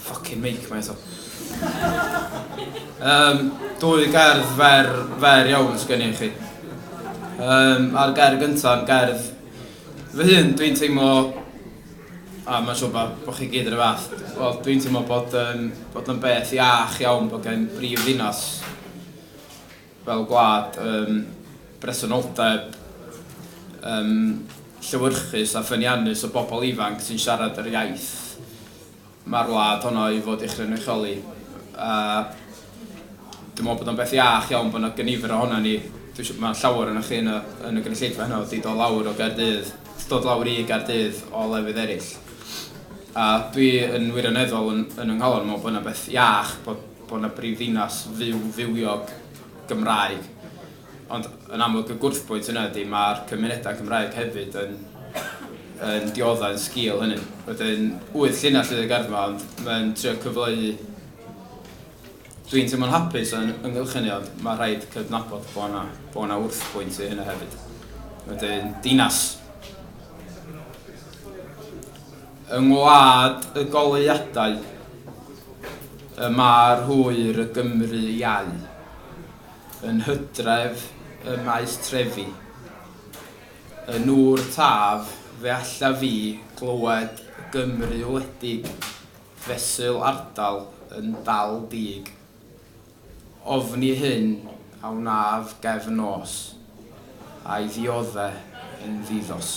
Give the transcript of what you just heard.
Fucking make mae eto. Um, dwy gerdd fer, fer iawn sgen i chi. Um, a'r gerdd gyntaf yn gerdd fy hun, dwi'n teimlo a mae'n siŵr bod, bod chi gyd yn y fath. Wel, dwi'n teimlo bod, um, bod yn beth iach iawn bod gen brif ddinas fel gwlad ym bresenoldeb ym llewyrchus a ffyniannus o bobl ifanc sy'n siarad yr iaith mae'r wlad honno i fod ei chynrychioli a dwi'n meddwl bod o'n beth iach iawn bod yna gynifer ohono ni dwi'n siŵr mae llawer ohonoch chi yn y, yn y gynulleidfa heno wedi dod lawr o Gaerdydd dod lawr i Gaerdydd o lefydd eraill a dwi yn wirioneddol yn, yn ynghalon meddwl bod yna beth iach bod bod yna brifddinas fyw, fywiog, Gymraeg. Ond yn amlwg y gwrthbwynt yna ydy mae'r cymunedau Cymraeg hefyd yn, yn dioddau yn sgil hynny. Wedyn, wyth llinell fydd y gerdd yma, ond mae'n trio cyfleu... Dwi'n teimlo'n hapus yn ynghylch hynny, ond mae rhaid cydnabod bod yna, bod yna wrthbwynt i hynny hefyd. Wedyn, dinas yng ngwlad y goleuadau Y mae'r hwyr y Gymru iau. Yn Hydref ym Maes Trefi. Y nŵr Taf fe allaf fi glywed y Gymru wledig fesul ardal yn dal dug. Ofni hyn a wnaf gefn nos, a'i ddiodde yn ddidos.